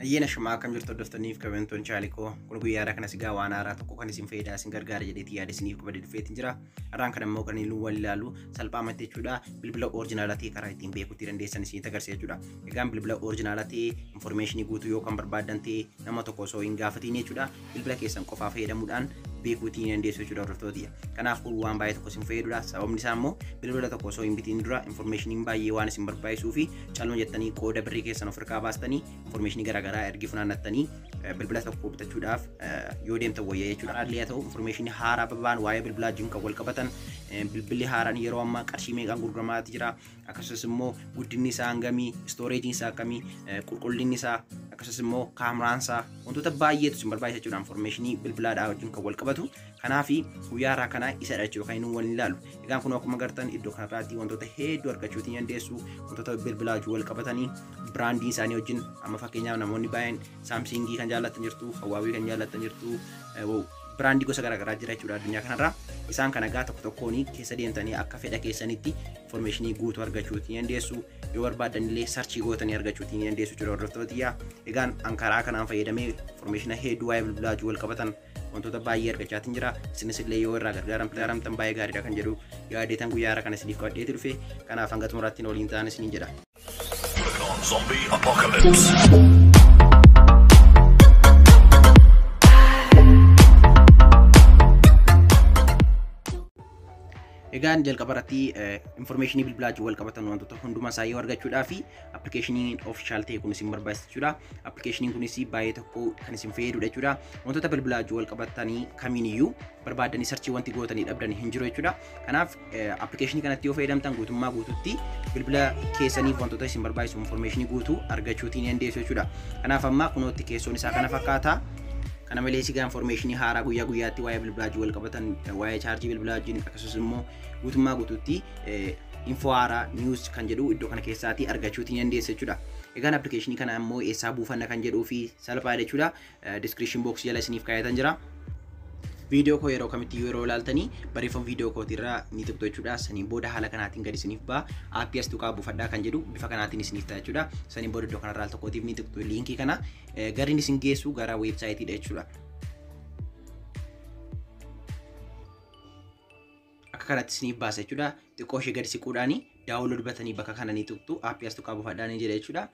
Ayyeena shamaa akkam jirtu hordoftoonniif kabajamtoon chaalikoo kun guyyaadhaa kanas egaa waan haaraa tokko kan isin fayyadaa isin gargaara jedheetii yaada isiniif qabadee dhufeetiin jira. Har'aan kan ammoo kan iluu wal ilaalu salphaamatti jechuudha bilbila orijinaalaa ta'e karaa ittiin beekuutti dandeessan isinitti agarsiisa jechuudha. Egaan bilbila orijinaalaa ta'e infoormeeshinii guutuu yoo kan barbaaddan ta'e nama tokko osoo hin gaafatiin jechuudha bilbila keessan qofaa fayyadamuudhaan beekuu ittiin dandeessu jechuudha hordoftootiyya. Kanaaf kun waan baay'ee tokko isin fayyadudha. Sababni isaa immoo bilbila tokko osoo hin bitiin dura infoormeeshiniin baay'ee waan isin barbaachisuu fi calma jettanii qooda birrii keessan of harkaa baastanii infoormeeshinii garaagaraa ergi funaannattanii bilbila tokko bitachuudhaaf yoo deemtan wayya jechuudha. Haalli haa ta'u infoormeeshinii haaraa babaan waa'ee bilbilaa wajjin kan wal qabatan bilbilli haaraan yeroo ammaa qarshii meeqaan gurguramaati jira. akkasumas immoo guddinni isaa hangamii istooreejiin isaa akkamii qulqullinni isaa akkasumas immoo kaameraan isaa wantoota baay'eetu isin barbaachisa jechuudha infoormeeshinii bilbilaadhaa wajjin kan wal qabatu kanaaf guyyaa irraa kana isa dha jechuudha kan inni waliin ilaalu egaan kun akkuma gartan iddoo kanarraatti wantoota hedduu argachuu ni dandeessu wantoota bilbilaa wajjin wal qabatanii biraandii isaanii wajjin amma fakkeenyaaf namoonni baay'een Saamsingii kan jaallattan jirtu, Huawei kan jaallattan jirtu, biraandii gosa garaagaraa jira jechuudha addunyaa kanarraa. Isaan kana egaa tokko tokkoon keessa deemtanii akka fedha keessanitti informeeshinii guutuu argachuu ni dandeessu. Yoo barbaaddan illee sarchii gootanii argachuu ni dandeessu jechuudha hordoftootiyyaa. Egaan an karaa kanaan fayyadamee informeeshina hedduu waa'ee bilbilaatiin wal qabatan wantoota baay'ee argachaatiin jira. Isinis illee yoo irraa gargaaramtan baay'ee gaariidha kan jedhu yaadeetan guyyaa har'a kan isiniif qabadheeti dhufe. Kanaaf hanga xumuraatti waliin ta'aa isiniin jedha. Egaan jalqaba irratti information bilbilaa wajjin wal qabatan wantoota hundumaa isaa yoo argachuudhaa fi appilikeeshiniin ofishaal ta'e kun isin barbaachisa jechuudha. Appilikeeshiniin kunis baay'ee tokko kan isin fayyadudha jechuudha. Wantoota bilbilaa wajjin wal qabatanii kamiiniyyuu barbaadanii sarchii wanti gootanii dhabdan hin jiru jechuudha. Kanaaf Appilikeeshinii kanatti yoo fayyadamtan guutummaa guututti bilbila keessaniif wantoota isin barbaachisu infoormeeshinii guutuu argachuutiin ni dandeessu jechuudha. Kanaaf amma kunootti keessoon isaa kana fakkaata. Kana malees egaa infoormeeshinii haaraa guyyaa guyyaatti waa'ee bilbilaa wajjin wal qabatan waa'ee chaarjii bilbilaa wajjin akkasumas immoo guutummaa guutuutti info haaraa news kan jedhu iddoo kana keessaatii argachuutiin ni dandeessu jechuudha. Egaan appilikeeshinii kana immoo eessaa buufanna kan jedhuu fi salphaadha jechuudha. description box jala isiniif kaayatan jira. Viidiyoo koo yeroo kamitti iyyuu yeroo ilaaltanii barreeffama viidiyoo kootii irraa ni tuqxu jechuudha. Saniin booda haala kanaatiin gad isiniif ba'a. Aappii as tuqaa buufadhaa kan jedhu bifa kanaatiin isiniif ta'a jechuudha. Saniin booda iddoo kanarraa al tokkootiif ni tuqxu liinkii kana eh, garri isin geessu gara weebsaayitiidha jechuudha. akka kanatti isiniif baasa jechuudha. Xiqqoo ishee gadi siquudhaani daawunlood batanii bakka kana ni tuqxu aappii as tuqaa buufadhaa ni jedha jechuudha.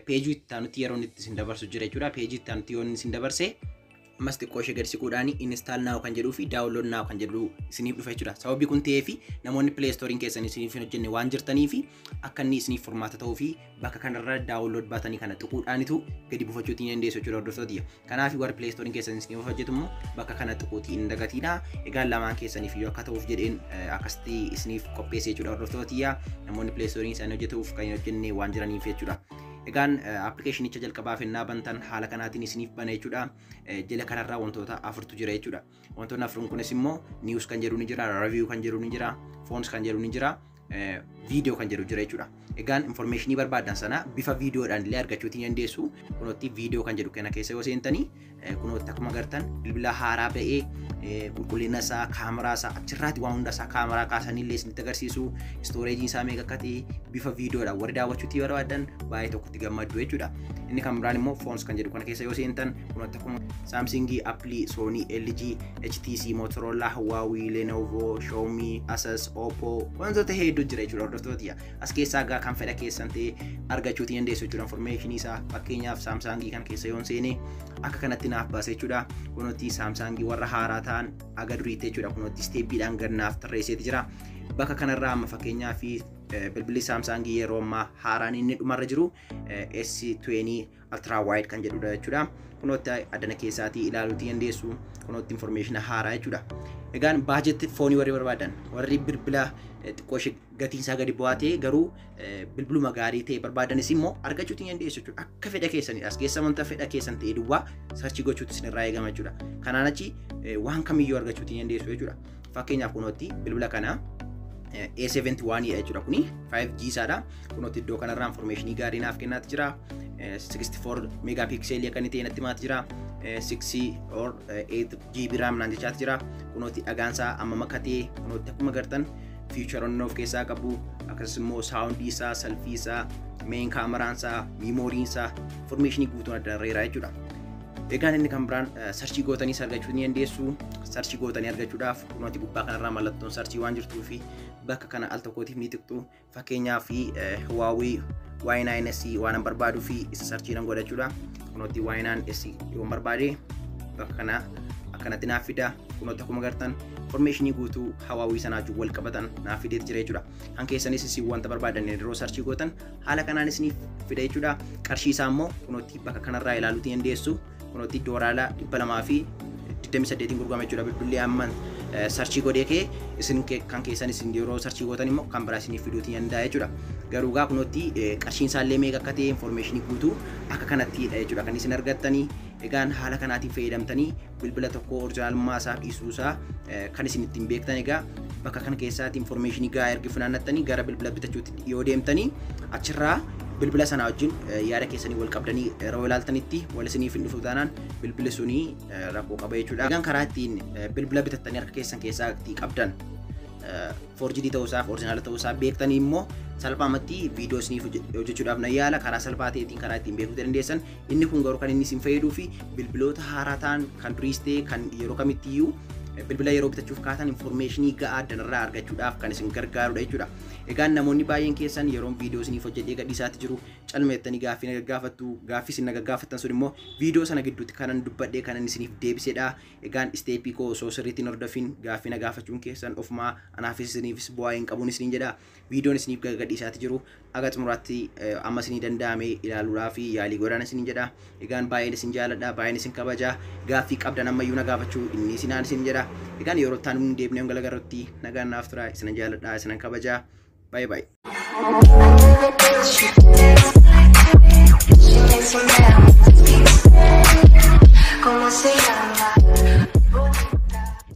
Peejii itti aanutti yeroo itti isin dabarsu jira jechuudha. Peejii itti aanutti yoo inni isin dabarse ammas xiqqoo ishee gadi siquudhaani install now kan jedhuu fi download now kan jedhu isiniif dhufa jechuudha. Sababii kun ta'ee fi namoonni play storein keessan isiniif hin hojjenne waan jirtanii fi akka inni isiniif furmaata ta'uu fi bakka kanarra daawunlood baatanii kana tuquudhaanitu gadi buufachuu ittiin dandeessu jechuudha hordoftoota kiyya. Kanaaf warri pileestooriin keessan isiniif hojjetu immoo bakka kana tuquutii hin dagatiina. Egaa lamaan keessaniif yoo akka ta'uuf jedheen akkasitti isiniif qopheesse jechuudha hordoftoota kiyya. Namoonni pileestooriin isaanii hojjetuuf kan hin hojjenne waan jiraniif jechuudha. Egaan appilikeeshinicha jalqabaa fennaa bantan haala kanaatiin isiniif bana jechuudha. Jala kanarraa wantoota afurtu jira jechuudha. Wantoonni afran kunis immoo news kan jedhu ni jira, review kan jedhu ni jira, phones kan jedhu ni jira, video kan jedhu jira jechuudha. Egaan informationii barbaadan sana bifa videodhaan illee argachuu ni dandeessu. Kunootti video kan jedhu kana keessa yoo seentanii kunootti akkuma agartan bilbila haaraa ba'ee qulqullina isaa, kaameraa isaa achirraati waan hunda isaa kaameraa kaasanii illee isinitti agarsiisu. Istooreejiin isaa meeqa akka ta'e bifa videodhaan warri daawwachuutti barbaadan baay'ee tokkotti gammaddu jechuudha. Inni kan biraan immoo phones kan jedhu kana keessa yoo seentan kunootti Saamsingii, Appilii, Soonii, LG, HTC, Motorola, Huawei, Lenovo, Xiaomi, Asus, Oppo wantoota hedduu jira jechuudha hordoftoota. As keessaa egaa kan fedha keessan ta'e argachuu ni dandeessu jechuudha information isaa fakkeenyaaf Saamsangii kan keessa yoon seene akka kanatti naaf baase jechuudha. Kunuutti Saamsangii warra haaraa ta'an aga duriitti jechuudha kunuutti isteeppiidhaan gad naaf tarreesseeti jira. Bakka kanarraa amma fakkeenyaaf bilbilli Saamsangii yeroo ammaa haaraan inni dhumarra jiru S20 ultra wide kan jedhudha jechuudha. Kunootti addana keessaatii ilaaluutii dandeessu. Kunootti information haaraa jechuudha. Egaan baajetti foonii warri barbaadan warri bilbila xiqqoo ishee gatiin isaa gadi bu'aa ta'e garuu bilbiluma gaarii ta'e barbaadanis immoo argachuutiin dandeessu jechuudha. Akka fedha keessanidha. As keessa wanta fedha keessan ta'e duwwaa sarchii gochuutti isinirraa eegama jechuudha. Kanaan achi waan kamiyyuu argachuutiin dandeessu jechuudha. Fakkeenyaaf kunootti bilbila kana A71 dha jechuudha kuni 5G isaadha. Kunootti iddoo kanarraa information gaarii naaf kennaati jira. 64 megapixel akka inni ta'e natti himaati jira. 6 or 8 GB RAM naan jechaati jira. Kunootti dhagaan isaa amma makatee kunootti akkuma gartan fiicharoonni of keessaa qabu akkasumas immoo saawundii isaa salfii isaa meen kaameraan isaa miimooriin isaa informeeshinii guutuun adda irreera jechuudha. Egaan inni kan biraan sarchii gootanii argachuu ni dandeessu. Sarchii gootanii argachuudhaaf kunuunti gubbaa kanarraa mallattoon sarchii waan jirtuu fi bakka kana al tokkootiif ni tuqxu. Fakkeenyaa fi Huawei Y9S waan barbaaduu fi isa sarchii nan godhachuudha. Kunuunti Y9S yoo barbaade bakka kana akkanatti naaf fida. Kunuunti akkuma gartan informeeshinii guutuu hawaawii sanaa wajjin wal qabatan naaf fideet jira jechuudha. Kan keessanis isin wanta barbaadan yeroo sarchii gootan haala kanaan isiniif fida jechuudha. Qarshii isaa immoo kunootti bakka kanarraa ilaaluutii hin deessu. Kunootti doolaara dhibba lamaa fi digdamii saddeetiin gurgurama jechuudha. Bilbilli amma sarchii godhee kee isin kan keessan isin yeroo sarchii gootan immoo kan biraa isiniif fiduutii hin danda'a jechuudha. Garuu gaa kunootti qarshiin isaa illee meeqa akka ta'e infoormeeshinii guutuu akka kanatti jechuudha kan isin argattanii. Egaan haala kanaatiin fayyadamtanii bilbila tokko orjinaalummaa isaa dhiisuu isaa kan isin ittiin beektan egaa bakka kana keessaatti informeeshinii gahaa ergi funaannattanii gara bilbila bitachuutti yoo deemtanii achirraa bilbila sanaa wajjin yaada keessanii wal qabdanii yeroo ilaaltanitti wal isiniif hin dhufu taanaan bilbili sunii rakkoo qaba jechuudha. Egaan karaa ittiin bilbila bitattanii harka keessan keessaatti qabdan forjidii ta'uu isaaf orjinaala ta'uu isaa beektanii immoo salphaamatti viidiyoo isiniif hojjechuudhaaf na yaala karaa salphaa ta'eetiin karaa ittiin beekuu dandeessan Inni kun garuu kan inni isin fayyaduu fi bilbiloota haaraa ta'an kan duriis ta'e kan yeroo kamitti iyyuu bilbila yeroo bitachuuf kaatan informeeshinii ga'aa addanarraa argachuudhaaf kan isin gargaarudha jechuudha. Egaa namoonni baay'een keessan yeroon viidiyoo isiniif hojjedhee gadhiisaatti jiru calma jettanii gaaffii na gaggaafattu gaaffii isin na gaggaafattan sun immoo viidiyoo sana gidduutti kanan dubbadhee kanan isiniif deebisedha. Egaan isteepii koo osoo sirriitti hin hordofin gaaffii na gaafachuun keessan ofumaa anaafis isiniifis bu'aa hin qabuun isiniin jedha. Viidiyoon isiniif gadhiisaati jiru aga xumuraatti amma isinii danda'ame ilaaluudhaaf yaalii godhaan isiniin jedha. Egaan baay'een isin jaaladha, baay'een isin kabaja. Gaaffii qabdan ammayyuu na gaafachuu inni isinaan isin jedha. Egaan yeroo itti aanuun deebinee hanga garrutti nagaan naaf tura. Isinan jaaladha, isinan kabaja. Baay'ee baay'ee. Como se llama?